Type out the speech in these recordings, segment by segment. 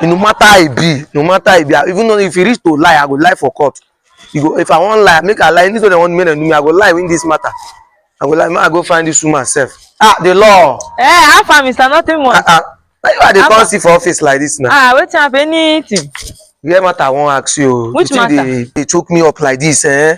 no matter how e be no matter how e be even though if you reach to lie i go lie for court you go if i wan lie make i lie anything dem wan make dem do me i go lie win this matter i go lie make i go find this woman sef ah the law. eh how far mr nothing much. ah ah na you i dey come see for office like this now. ah wetin happen anything. you hear matter i wan ask you. which matter you dey choke me up like this eh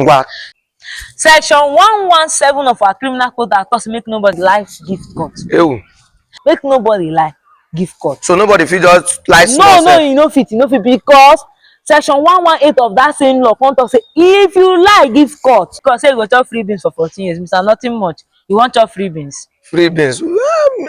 ngwa Section 117 of our criminal code act talk say make nobody lie give court. ewu Make nobody lie give court. so nobody fit just lie No, small no, sef you no fit, you no fit because section 118 of that same law come talk say if you lie give court, court say you go chop free beans for 14 years, Mr. Nothing much, you wan chop free beans. free beans Well,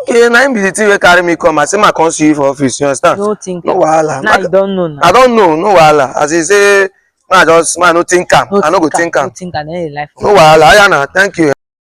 okay na him be the thing wey carry me come i say ma come see you for office you understand no think no wahala now you don know now i don know no wahala as he say ma just ma no think am i no go think am no wahala aya na thank you.